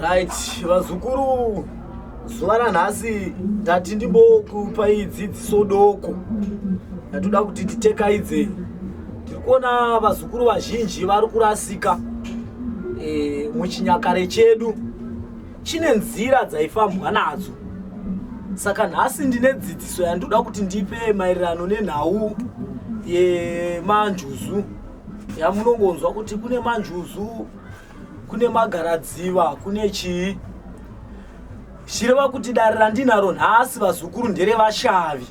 right vazukuru zuva ranhasi ndati ndimbokupai dzidziso doko ndatoda kuti titekaidzei tiri kuona vazukuru vazhinji vari kurasika e, muchinyakare chedu chine nzira dzaifambwa nadzo saka nhasi ndine dzidziso yandinoda kuti ndipe maererano nenhau yemanjuzu yamunongonzwa kuti kune manjuzu kune magaradziva kune chii zvireva kuti dare randinaro nhasi vazukuru nderevashavi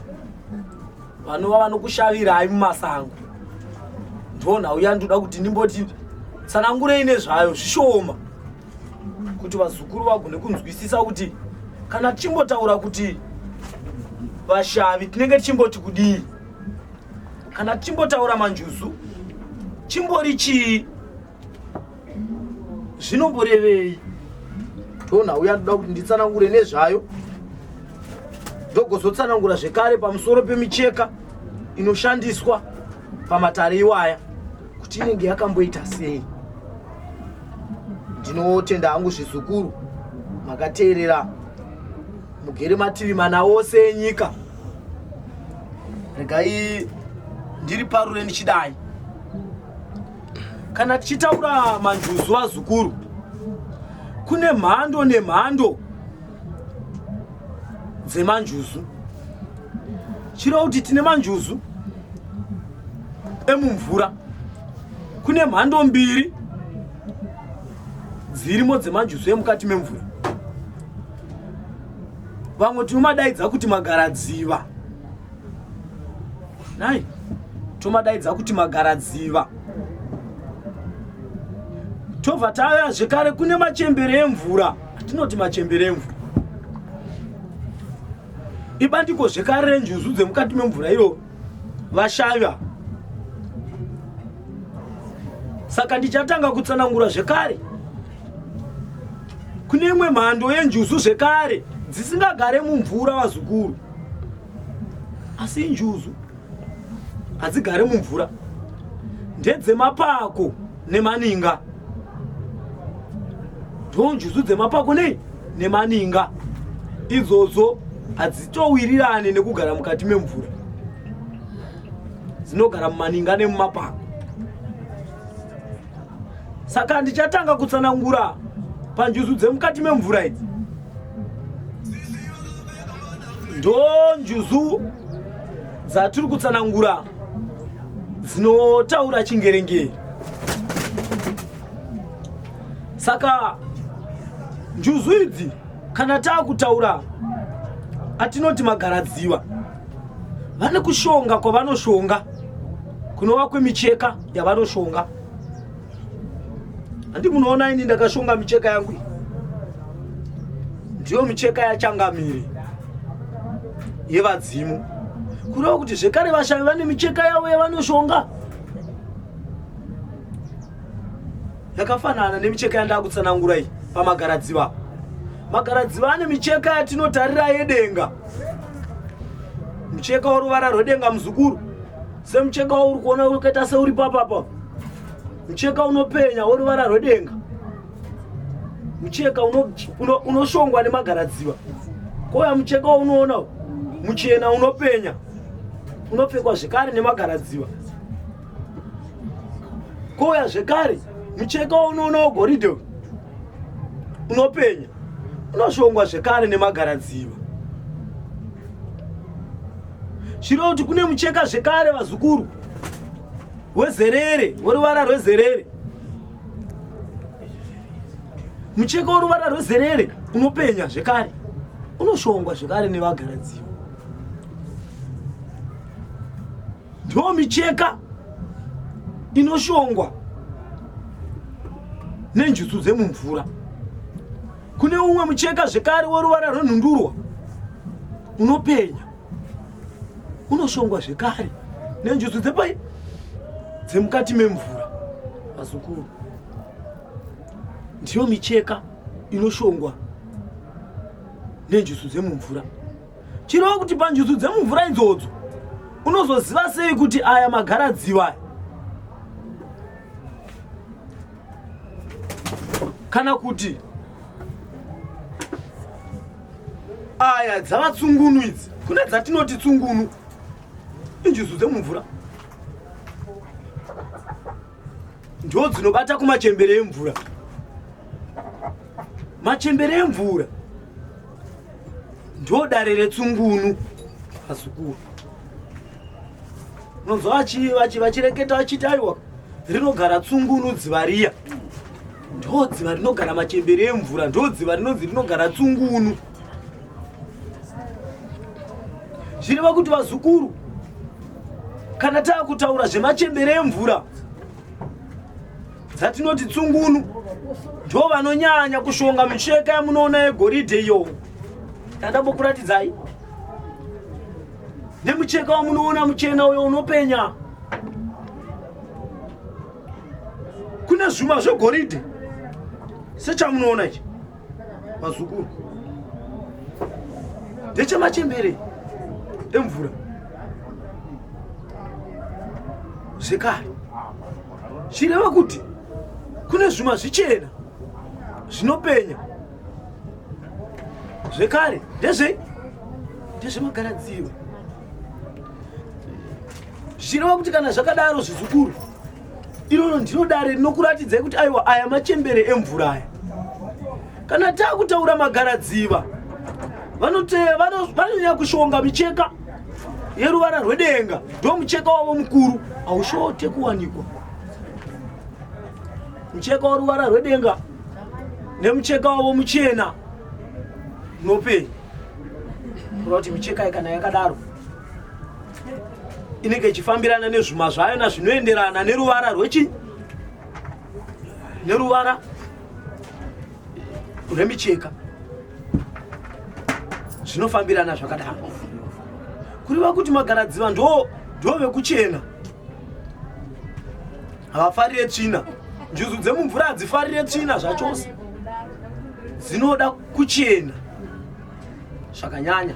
vanova vanokushavirai mumasango ndo nhau yandoda kuti ndimboti tsanangurei nezvayo zvishoma kuti vazukuru vagone kunzwisisa kuti kana tichimbotaura kuti vashavi tinenge tichimboti kudii kana tichimbotaura manjuzu chimbori chii zvinomborevei tona uya ndoda kuti nditsanangure nezvayo ndogozotsanangura zvekare pamusoro pemicheka inoshandiswa pamatare iwaya kuti inenge yakamboita sei ndinotenda hangu zvizukuru makateerera mugere mativi mana ose enyika regai ndiri parure ndichidai kana tichitaura manjuzu vazukuru kune mhando nemhando dzemanjuzu chireva kuti tine manjuzu emumvura kune mhando mbiri dzirimo dzemanjuzu emukati memvura vamwe tinomadaidza kuti magaradziva nai tomadaidza kuti magaradziva tobva tauya zvekare kune machembere emvura atinoti machembere emvura ibandiko zvekare renjuzu dzemukati memvura iro vashaiva saka ndichatanga kutsanangura zvekare kune imwe mhando yenjuzu zvekare dzisingagare mumvura vazukuru asi njuzu hadzigare mumvura ndedzemapako nemaninga ndo njuzu dzemapako nei nemaninga idzodzo hadzitowirirane nekugara mukati memvura dzinogara mumaninga nemumapako saka ndichatanga kutsanangura panjuzu dzemukati memvura idzi ndo njuzu dzatiri kutsanangura dzinotaura chingerengere saka njuzu idzi kana taakutaura atinoti magaradziva vane kushonga kwavanoshonga kunova kwemicheka yavanoshonga handi munoona ini ndakashonga micheka yangu iyi ndiyo micheka yachangamire yevadzimu kureva kuti zvekare vashavi vane micheka yavo yavanoshonga yakafanana nemicheka yandakutsanangura iyi pamagaradziva magaradziva ane micheka yatinotarira yedenga mucheka woruvara rwedenga muzukuru semucheka wauri kuona ukaita seuri papapa mucheka unopenya woruvara rwedenga mucheka unoshongwa uno, nemagaradziva kouya mucheka waunoona muchena unopenya unopfekwa zvekare nemagaradziva kouya zvekare mucheka waunoona wegoridhe unopenya unoshongwa zvekare nemagaradziva chiro kuti kune mucheka zvekare vazukuru wezerere woruvara rwezerere mucheka woruvara rwezerere unopenya zvekare unoshongwa zvekare nevagaradziva Ndo micheka inoshongwa nenjuzu dzemumvura. Kune umwe mucheka zvekare woruvara rwenhundurwa unopenya unoshongwa zvekare nenjuzu dzepai dzemukati memvura vazukuru ndiyo micheka inoshongwa nenjuzu dzemumvura chireva kuti panjuzu dzemumvura idzodzo unozoziva sei kuti aya magara dziva kana kuti aya dzava tsungunu idzi kune dzatinoti tsungunu injuzu dzemumvura ndiwo dzinobata kumachembere emvura machembere emvura ndiwo dare retsungunu azukuru unonzwa vachireketa vachiti aiwa rinogara tsungunu dziva riya ndo dziva rinogara machembere emvura ndo dziva rinonzi rinogara tsungunu zvireva kuti vazukuru kana taakutaura zvemachembere emvura dzatinoti tsungunu ndo vanonyanya kushonga micheka yamunoona yegoridhe iyo tandambokuratidzai nemucheka wamunoona muchena uyo unopenya kune zvuma zvegoridhe sechamunoona ichi vazukuru ndechemachembere emvura zvekare chireva kuti kune zvuma zvichena zvinopenya zvekare ndezve ndezvemagaradziwa zvichireva kuti kana zvakadaro zvizukuru iroro ndiro dare rinokuratidzai kuti aiwa aya machembere emvura aya kana taakutaura magaradziva vanoteya vanonyanya kushonga micheka yeruvara rwedenga ndo mucheka wavo mukuru haushote kuwanikwa mucheka weruvara rwedenga nemucheka wavo muchena nopei kura kuti micheka ikana yakadaro inenge ichifambirana nezvuma zvayo na zvinoenderana neruvara rwechi neruvara rwemicheka zvinofambirana zvakadaro kureva kuti magaradziva ndo ndo vekuchena havafarire tsvina njuzu dzemumvura hadzifarire tsvina zvachose dzinoda kuchena zvakanyanya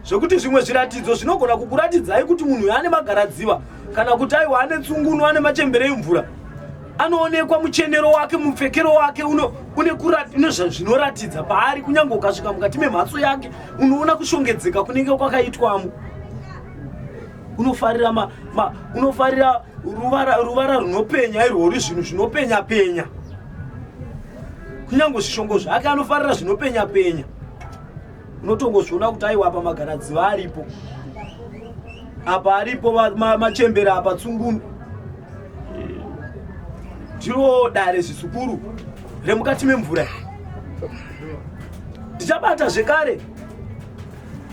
zvekuti zvimwe zviratidzo zvinogona kukuratidzai kuti munhu uyo ane magaradziva kana kuti aiwa ane tsungunu ane machembere emvura anoonekwa muchenero wake mupfekero wake une zvinoratidza paari kunyange ukasvika mukati memhatso yake unoona kushongedzeka kunenge kwakaitwamo unofarira ruvara ruvara runopenya irwo ri zvinhu zvinopenya penya kunyange zvishongo zvake anofarira zvinopenya penya unotongozviona kuti aiwa apa magaradziva aripo apa aripo machembera apa tsungunu ndiro dare zvisukuru remukati memvura ndichabata zvekare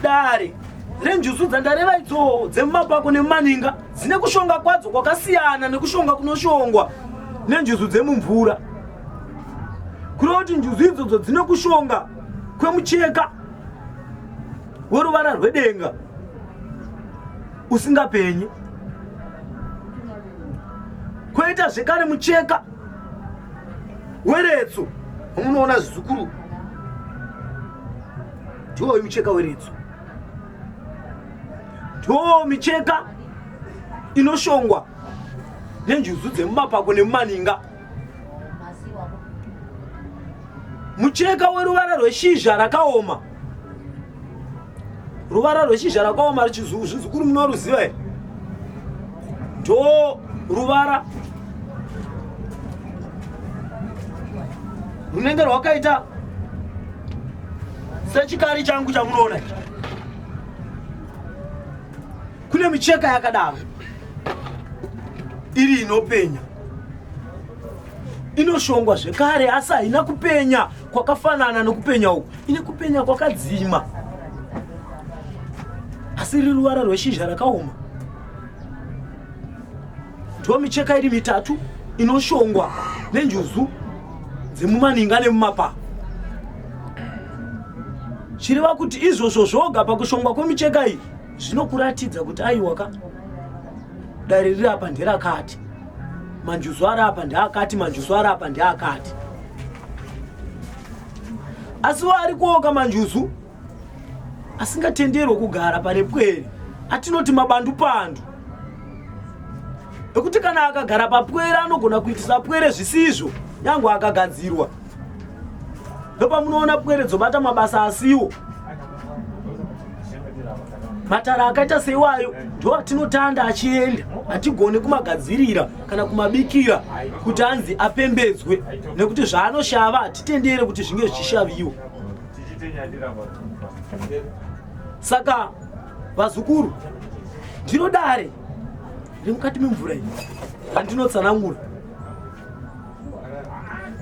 dare renjuzu dzandareva idzoo dzemumapako nemumaninga dzine kushonga kwadzo kwakasiyana nekushonga kunoshongwa nenjuzu dzemumvura kureva kuti njuzu idzodzo dzine kushonga kwemucheka weruvara rwedenga usingapenyi kwoita zvekare mucheka weretso unoona zvizukuru Ndoo micheka weredzo, ndoo micheka inoshongwa nenjuzu dzemumapako nemumaninga. Mucheka weruvara rweshizha rakaoma, ruvara rweshizha rakaoma, zvizukuru munoruziva here? ndo ruvara runenge rwakaita sechikari changu chamunoona ichi kune micheka yakadaro iri inopenya inoshongwa zvekare asi haina kupenya kwakafanana nokupenya uku ine kupenya kwakadzima asi riri ruvara rweshizha rakaoma ndiwo micheka iri mitatu inoshongwa nenjuzu dzemumaninga nemumapa chireva kuti izvozvo zvoga pakushongwa kwemicheka iyi zvinokuratidza kuti aiwaka dare riri apa nderakati manjuzu ari apa ndeakati manjuzu ari apa ndeakati asi waari kuoka manjuzu asingatenderwe kugara pane pwere atinoti mabandupandu ekuti kana akagara papwere anogona kuitisa pwere zvisizvo nyange akagadzirwa ndopamunoona pwere dzobata mabasa asiwo matara akaita seiwayo ndo atinotanda achienda hatigone kumagadzirira kana kumabikira kuti anzi apembedzwe nekuti zvaanoshava hatitendere kuti zvinge zvichishaviwa saka vazukuru ndiro dare remukati memvura iyi randinotsanangura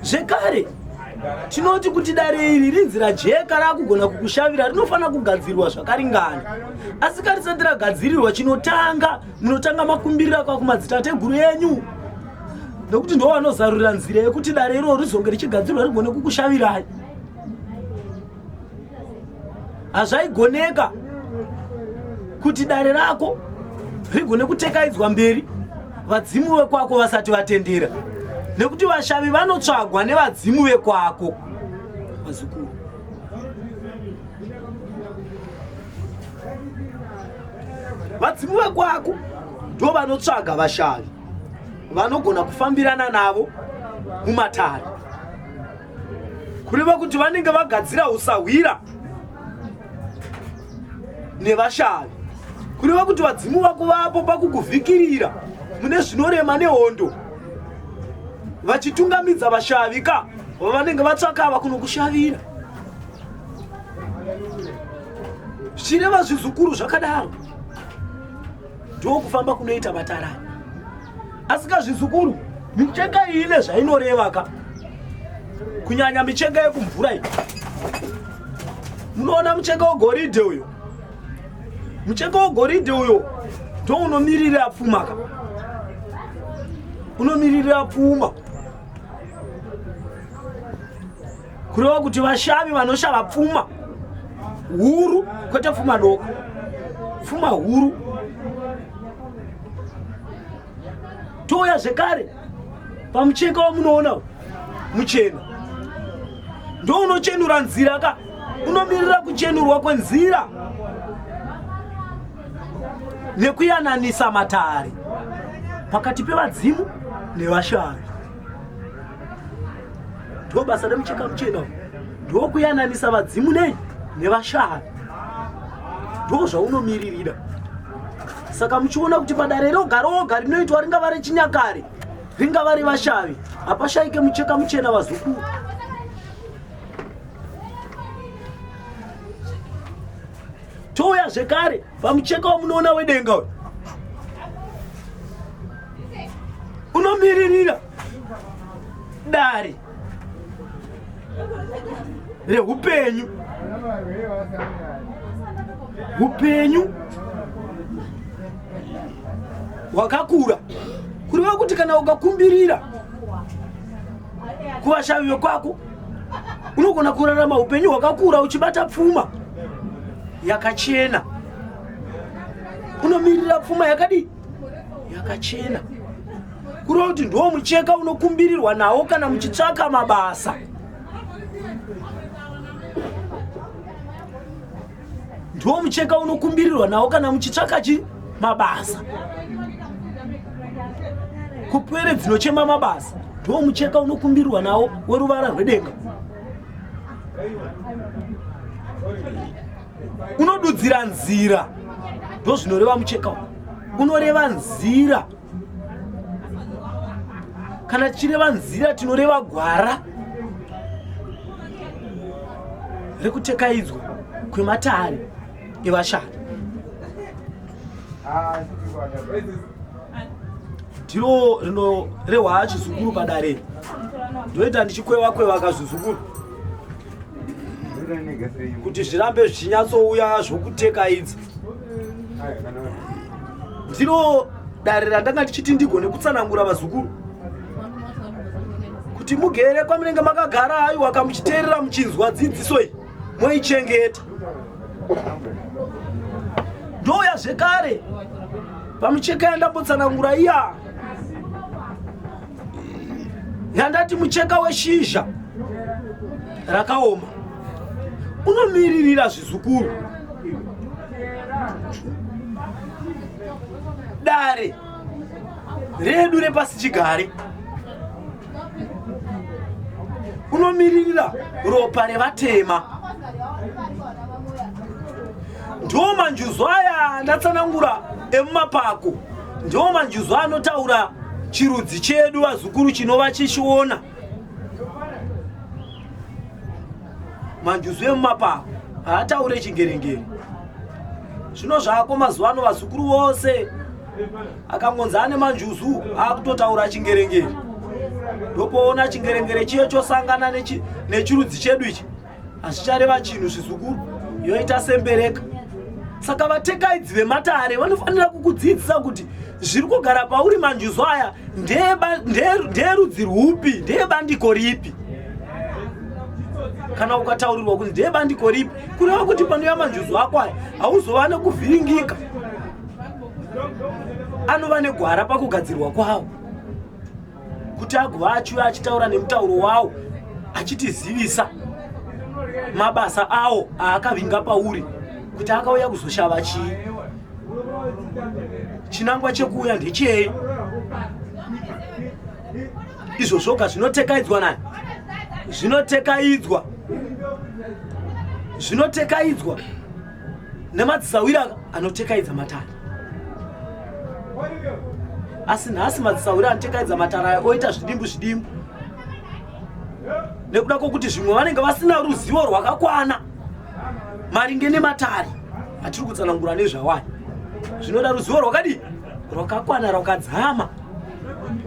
zvekare tinoti kuti dare iri rinzi rajeka rakugona kukushavira rinofanira kugadzirwa zvakaringana asi ka risati ragadzirirwa chinotanga munotanga makumbirira kwa kumadzitateguru enyu nokuti ndo vanozarurira nzira yekuti dare iroro rizonge richigadzirwa rigone kukushavirai hazvaigoneka kuti dare rako rigone kutekaidzwa mberi vadzimu vekwako vasati vatendera nekuti vashavi vanotsvagwa nevadzimu vekwako vazukuru vadzimu vekwako ndo vanotsvaga vashavi vanogona kufambirana navo mumatare kureva kuti vanenge vagadzira usahwira nevashavi kureva kuti vadzimu vako vapo pakukuvhikirira mune zvinorema nehondo vachitungamidza vashavi ka vavanenge vatsvaka va kunokushavira zvichireva zvizukuru zvakadaro ndokufamba kunoita matara asika zvizukuru micheka iyi ine zvainoreva ka kunyanya micheka yekumvura iyi munoona mucheka wegoridhe uyo mucheka wegoridhe uyo ndo unomiririra pfuma ka unomiririra pfuma kureva kuti vashavi vanoshava pfuma huru kwete pfuma doko pfuma huru touya zvekare pamucheka wamunoona muchena ndounochenura nzira ka unomirira kuchenurwa kwenzira nekuyananisa matare pakati pevadzimu nevashavi ndiwo basa remucheka muchena ndiwo kuyananisa vadzimu nei nevashaha ndiwo zvaunomiririra saka muchiona kuti padare roga roga rinoitwa ringava rechinyakare ringava revashavi hapashaike mucheka muchena vazukuru touya zvekare pamucheka wamunoona wedenga uyo unomiririra dare rehupenyu hupenyu hwakakura kureva kuti kana ukakumbirira kuvashavi vekwako unogona kurarama hupenyu hwakakura uchibata pfuma yakachena unomirira pfuma yakadii yakachena kureva kuti ndiwo mucheka unokumbirirwa nawo kana muchitsvaka mabasa ndiwo mucheka unokumbirirwa nawo kana muchitsvaka chi mabasa kupwere dzinochema mabasa ndiwo mucheka unokumbirirwa nawo weruvara rwedenga unodudzira nzira ndozvinoreva mucheka uyu unoreva nzira kana tichireva nzira tinoreva gwara rekutekaidzwa kwematare evashari ndiro rinorehwa chizukuru padare ndoita ndichikweva kweva kazvizukuru kuti zvirambe zvichinyatsouya zvokuteka idzi ndiro dare randanga ndichiti ndigone kutsanangura vazukuru kuti mugere kwamunenge makagara aiwa kamuchiteerera muchinzwa dzidziso iyi moichengeta ndouya zvekare pamucheka yandambotsanangura iya yandati mucheka weshizha rakaoma unomiririra zvizukuru dare redu repasi chigare unomiririra ropa revatema ndo manjuzu aya andatsanangura emumapako ndiwo manjuzu anotaura chirudzi chedu vazukuru chinova chichiona manjuzu emumapako haataure chingerengere zvino zvako mazuva ano vazukuru vose akangonzi ane manjuzu akutotaura chingerengere ndopoona chingerengere chiye chosangana nechirudzi chedu ichi hazvichareva chinhu zvizukuru yoita sembereka saka vatekaidzi vematare vanofanira kukudzidzisa kuti zviri kugara pauri manjuzu aya ndeerudzi rwupi ndeebandiko ripi kana ukataurirwa kuti ndeebandiko ripi kureva kuti panouya manjuzu ako aya hauzova nekuvhiringika anova negwara pakugadzirwa kwawo kuti agova achiuya achitaura nemutauro wawo achitizivisa mabasa awo aakavinga pauri kuti akauya kuzoshava chii chinangwa chekuuya ndechei izvo zvoga zvinotekaidzwa naye zvinotekaidzwa zvinotekaidzwa nemadzisawira anotekaidza matare asi nhasi madzisawira anotekaidza matare aya oita zvidimbu zvidimbu nekuda kwokuti zvimwe vanenge vasina ruzivo rwakakwana maringe nematare atiri kutsanangura nezvawaya zvinoda ruzivo rwakadii rwakakwana rwakadzama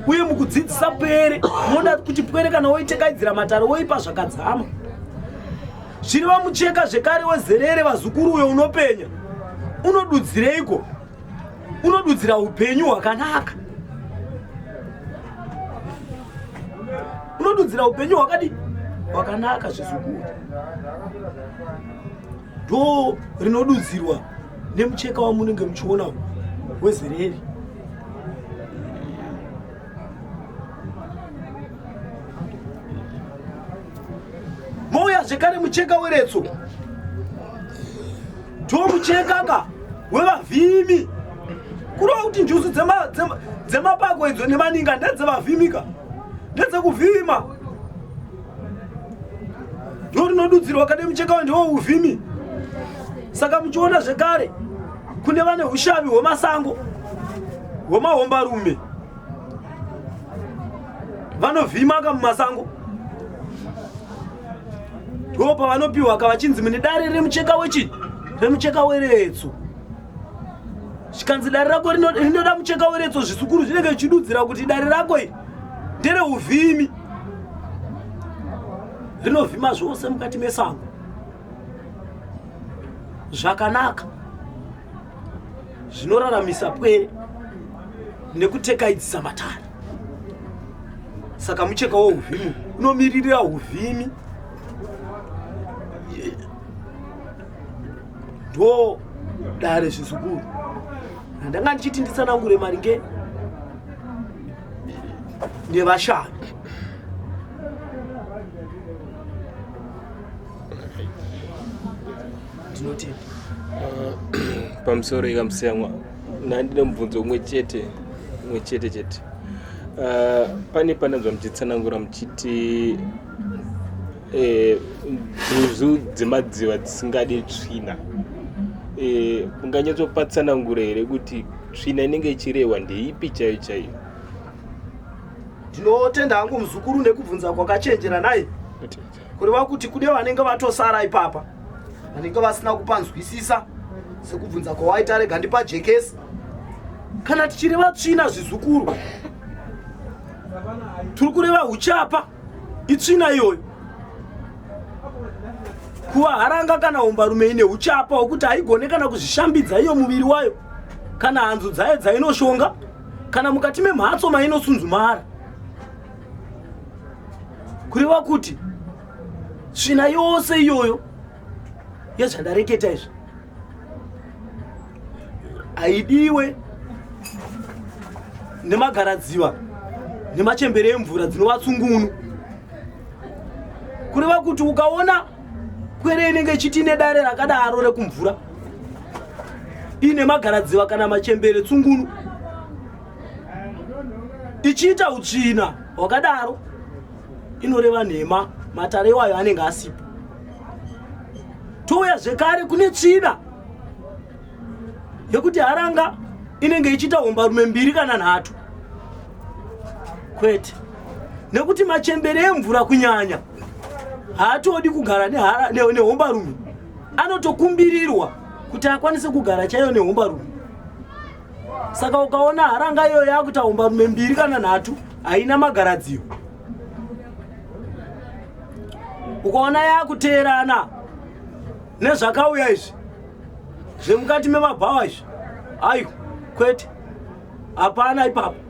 uye mukudzidzisa pwere unoda kuti pwere kana woitekaidzira matare woipa zvakadzama Zvino vamucheka zvekare wezerere vazukuru uyo unopenya. Unodudzireiko? Unodudzira upenyu hwakanaka. Unodudzira upenyu hwakadi hwakanaka zvizukuru. Do rinodudzirwa nemucheka wamunenge muchiona wezerere. mouya zvekare mucheka weretso to mucheka ka wevavhimi kurova kuti njuzu dzemapako idzo nemaninga ndedzevavhimika ndedzekuvhima ndo rinodudzirwa kade mucheka wa ndiwo uvhimi saka muchiona zvekare kune vane ushavi hwemasango hwemahombarume vanovhimaka mumasango ndo pavanopiwa ka vachinzi mune dare remucheka wechii remucheka weretso zvikanzi dare rako rinoda mucheka weretso zvisukuru zvinenge zvichidudzira kuti dare rako iri ndereuvhimi rinovhima zvose mukati mesango zvakanaka zvinoraramisa pwere nekutekaidzisa matare saka mucheka wouvhimi unomiririra uvhimi ndo dare zvizukuru ndanga ndichiti nditsanangure maringe nevashanu ndinotenda uh, pamusoro ikamusiyamwa nandine mubvunzo umwe chete umwe chete chete uh, pane pananzva muchitsanangura muchiti eh, nduzu dzemadziva dzisingadi tsvina eh, munganyatsopa tsanangura here kuti tsvina inenge ichirehwa ndeipi chaiyo chaiyo ndinotenda hangu muzukuru nekubvunza kwakachenjera naye kureva kuti kune vanenge vatosara ipapa vanenge vasina kupanzwisisa sekubvunza kwawaita rega ndipajekesi kana tichireva tsvina zvizukuru tiri kureva uchapa itsvina iyoyo kuva haranga kana umbarume ine uchapa hwekuti haigone kana kuzvishambidza iyo muviri wayo kana hanzu dzayo dzainoshonga kana mukati memhatso mainosunzumara kureva kuti tsvina yose iyoyo yezvandareketa izvi haidiwe nemagaradziva nemachembere emvura dzinova tsungunu kureva kuti ukaona kwere inenge ichiti ine dare rakadaro rekumvura iine magaradziva kana machembere tsungunu ichiita utsvina hwakadaro inoreva nhema matare iwayo anenge asipo touya zvekare kune tsvina yekuti haranga inenge ichiita hombarume mbiri kana nhatu kwete nekuti machembere emvura kunyanya haatodi kugara nehombarume anotokumbirirwa kuti akwanise kugara chaiyo nehombarume saka ukaona haranga iyoyo yakuita hombarume mbiri kana nhatu haina magaradziro ukaona yakuteerana nezvakauya izvi zvemukati memabhawa izvi ayo kwete hapana ipapo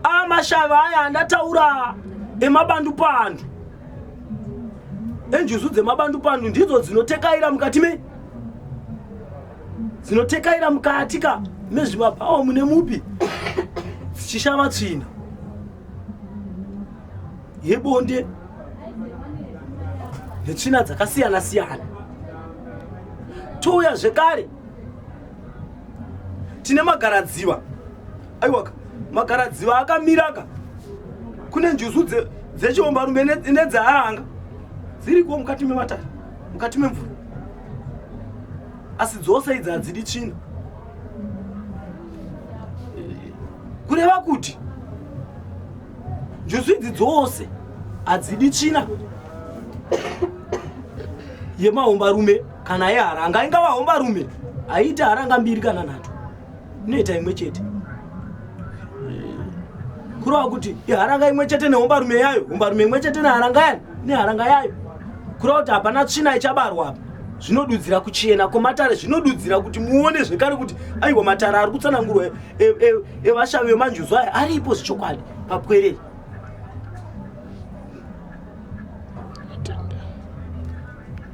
amashavi aya andataura emabandupandu enjuzu dzemabandupandu ndidzo dzinotekaira mukati mei dzinotekaira mukati ka mezvimabhawa mune mupi dzichishava tsvina yebonde netsvina dzakasiyana siyana touya zvekare tine magaradziva aiwaka magaradziva akamiraka kune njuzu dzechiombarume nedzearanga dziriko mukati mematare mukati memvura asi dzose idzi hadzidi tsvina kureva kuti njuzu idzi dzose hadzidi tsvina yemahombarume kana yeharanga ingava hombarume haiite haranga mbiri kana nhatu inoita imwe chete kureva kuti iharanga imwe chete nehombarume yayo hombarume imwe chete neharanga yani neharanga yayo kureva kuti hapana tsvina ichabarwa apa zvinodudzira kuchena kwematare zvinodudzira kuti muone zvekare kuti aiwa matare ari kutsanangurwa evashavi e, e, e vemanjuzu aya aripo zvichokwadi papwerei